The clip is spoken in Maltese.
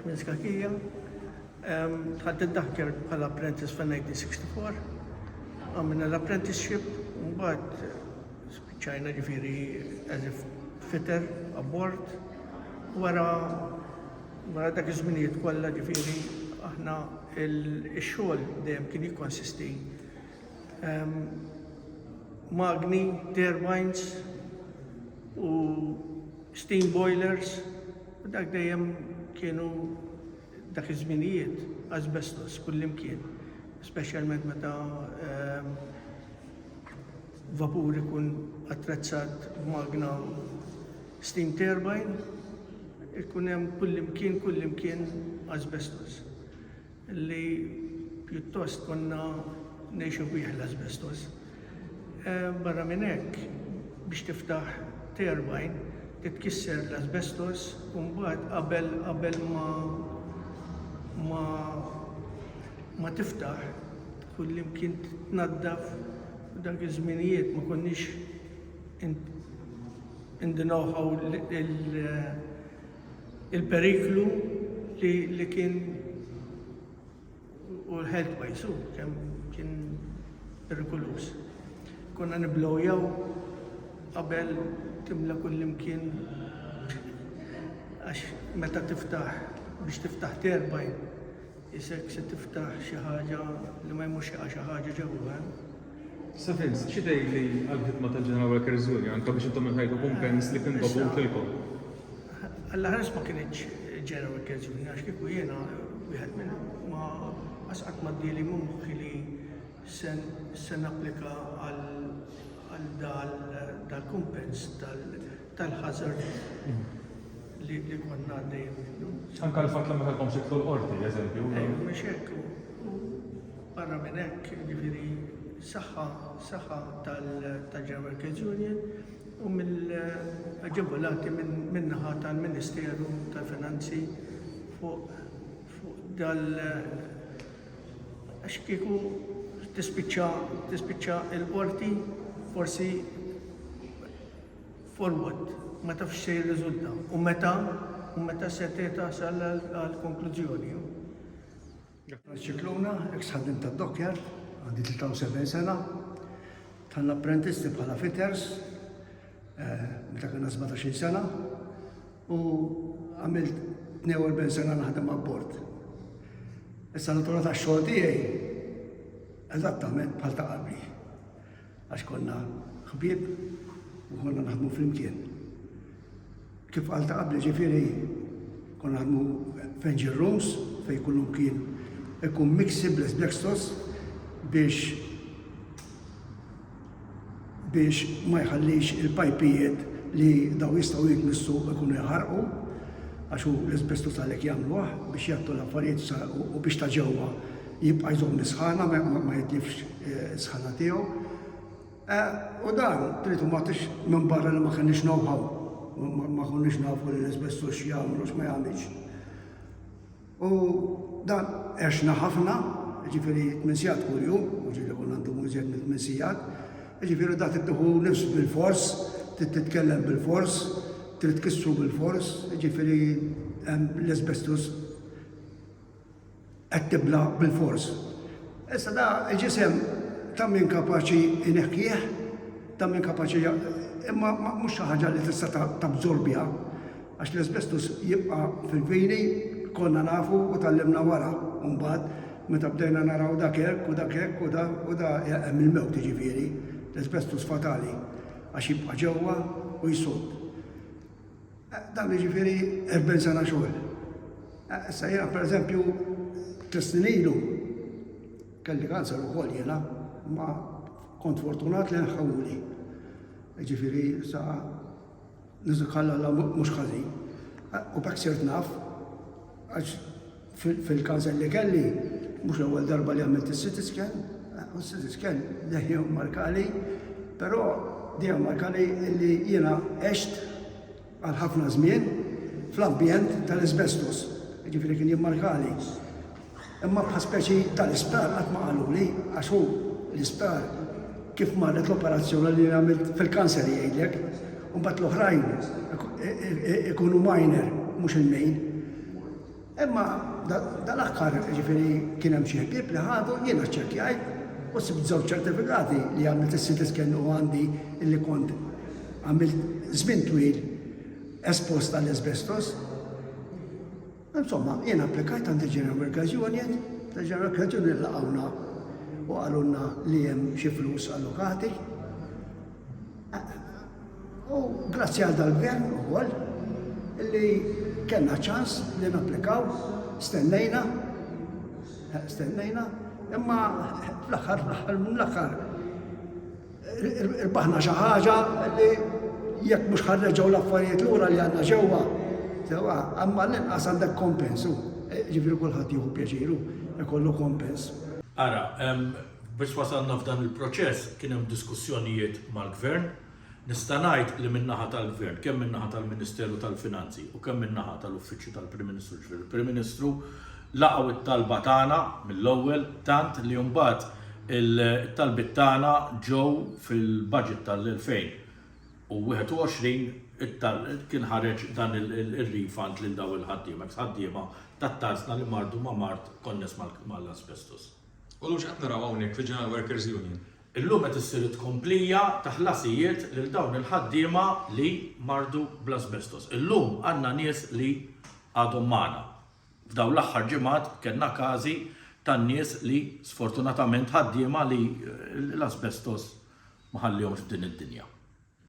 Minn Skakija, dħalt id-Daħker bħala apprentice fil-1964. Għamilna l-apprenticeship, mbagħad spiċċajna ġifieri as a fitter abbord. Wara wara dak iż-żminijiet kollha ġifieri aħna x-xogħol dejjem kien jikkonsisti magni, turbines u steam boilers u dak dejjem kienu dak iż-żminijiet asbestos kullimkien, speċjalment meta vapur ikun attrezzat b'magna steam turbine, ikun hemm kullimkien, kullimkien asbestos. li pjuttost konna ngħixu bih l-asbestos. Barra minn hekk, biex tiftaħ turbine, titkisser l-asbestos u mbagħad qabel qabel ma ma ma tiftaħ kullimkien tnaddaf dak iż-żminijiet ma konniex in the know-how il-periklu li li kien u l-health wise u kemm kien perikuluż. Konna niblowjaw qabel timla kullimkien għax meta tiftaħ biex tiftaħ terbaj Isek se tiftaħ xi ħaġa li ma jmurx jaqa' xi ħaġa ġewwa hemm. Sa Vince, xi tgħidli għall-ħidma tal-General Workers Union anke biex intom inħajtu kumpens li kien dovut lilkom? Alla ħares ma kinitx General Workers Union għax kieku jiena wieħed minn ma asqat ma ddieli minn moħħi li se napplika għal dal-kumpens tal tal-hazard li konna għaddejjin minnu. Anka l-fatt li ma kellkomx titlu l-qorti, eżempju. Ejju, mhux hekk. Barra minn hekk, jiġifieri saħħa saħħa tal-General Kids Union u mill-aġevolati min-naħa tal-Ministeru tal-Finanzi fuq dal għax kieku tispiċċa il-qorti forsi forward ma tafx se jirriżulta u meta u meta se tasal għal konklużjoni. Ċikluna, ex ħaddim ta' Dokjar, għandi 73 sena, tal apprentisti bħala fitters, eh, meta kena 17 sena, u għamilt 42 sena naħdem abbord. Issa natura ta' xogħol tiegħi eżattament bħal ta' qabli. Għax konna ħbieb u konna naħdmu flimkien. Kif qal ta' qabli ġifieri konna naħdmu f'engine rooms fejn kullu kien ikun mix sibles black sauce biex biex ma jħallix il-pajpijiet li daw jistgħu jitmissu ikunu jħarqu għax hu l-isbestu tal-ek jagħmluh biex jattu l-affarijiet u biex ta' ġewwa Jibqa' jżomm is-sħana, ma jitliefx is-sħana tiegħu. U dan, trid u ma tridx, minbarra li ma kellniex know-how, ma konniex nafu li l-asbestos x'jagħmel u x'ma jagħmilx. U dan għexna ħafna, jiġifieri tmien sigħat kuljum, mhux li konna ndumu iżjed minn tmien sigħat, jiġifieri dan trid tieħu nifs bilfors, trid titkellem bilfors, trid tkissru bilfors, jiġifieri hemm l-asbestos. Qed tibla' bilfors. Issa da l-ġisem ta' min kapaċi jneħħih, ta' min kapaċi imma mhux xi ħaġa li tista' tabżorbiha għax l-asbestos jibqa' fil-vini, konna nafu u tgħallimna wara mbagħad meta bdejna naraw dak hekk u dak hekk u da u da hemm il-mewt jiġifieri, l-asbestos fatali għax jibqa' ġewwa u jsudd. Dan jiġifieri erbgħin sena xogħol. Issa jiena pereżempju tliet snin ilu kelli kanser ukoll jiena, ma kont fortunat li nħawli. Jiġifieri sa niżukalla mhux ħażin. U bekk sirt naf Għax fil-każel li kelli, mhux l-ewwel darba li għamilt is-CT scan, u s-CT scan dejjem markali, però dejjem markali li jiena għext għal ħafna żmien fl-ambjent tal-asbestos. Jiġifieri kien jimmarkali Imma bħal speċi tal-isptar qatt ma qaluli għax hu l-isptar kif marret l-operazzjoni li għamilt fil-kanser jgħidlek. Imbagħad l-oħrajn ikunu minor mhux il-main. Imma dal-aħħar ġifieri kien hemm xi ħbieb li ħadu jiena ċċekkjajt u sibt żewġ ċertifikati li għamilt is-CT scan u għandi li kont għamilt żmien twil espost għall-asbestos. Insomma, jien applikajt għand il-General Workers Union, il-General Workers Union laqgħuna u qalulna li hemm xi flus allokati. U grazzi għal dal-gvern ukoll li kellna ċans li napplikaw, stennejna, stennejna, imma fl-aħħar l-aħħar Rbaħna xi ħaġa li jekk mhux ħa nreġgħu l-affarijiet lura li għandna ġewwa, sewwa, imma l-inqas għandek kompens u ġifieri kulħadd jieħu pjaċiru jkollu kompens. Ara, biex wasalna f'dan il-proċess kien hemm diskussjonijiet mal-Gvern. Nista' ngħid li min-naħa tal-Gvern, kemm min-naħa tal-Ministeru tal-Finanzi u kemm min-naħa tal-Uffiċċju tal-Prim Ministru, ġifieri l-Prim Ministru, Laqgħu it-talba tagħna mill-ewwel tant li mbagħad it-talbiet tagħna ġew fil-budget tal-2021 kien ħareġ dan ir-refund lil dawn il-ħaddiema, eks-ħaddiema tat-Tazzna li mardu ma' mard konness mal-asbestos. U llum x'qed naraw hawnhekk fil-General Workers Union? Illum qed issir it-tkomplija ta' ħlasijiet lil dawn il-ħaddiema li mardu bl-asbestos. Illum għandna nies li għadhom magħna. F'dawn l-aħħar ġimgħat kellna każi ta' nies li sfortunatament ħaddiema li l-asbestos ma ħallihomx f'din id-dinja.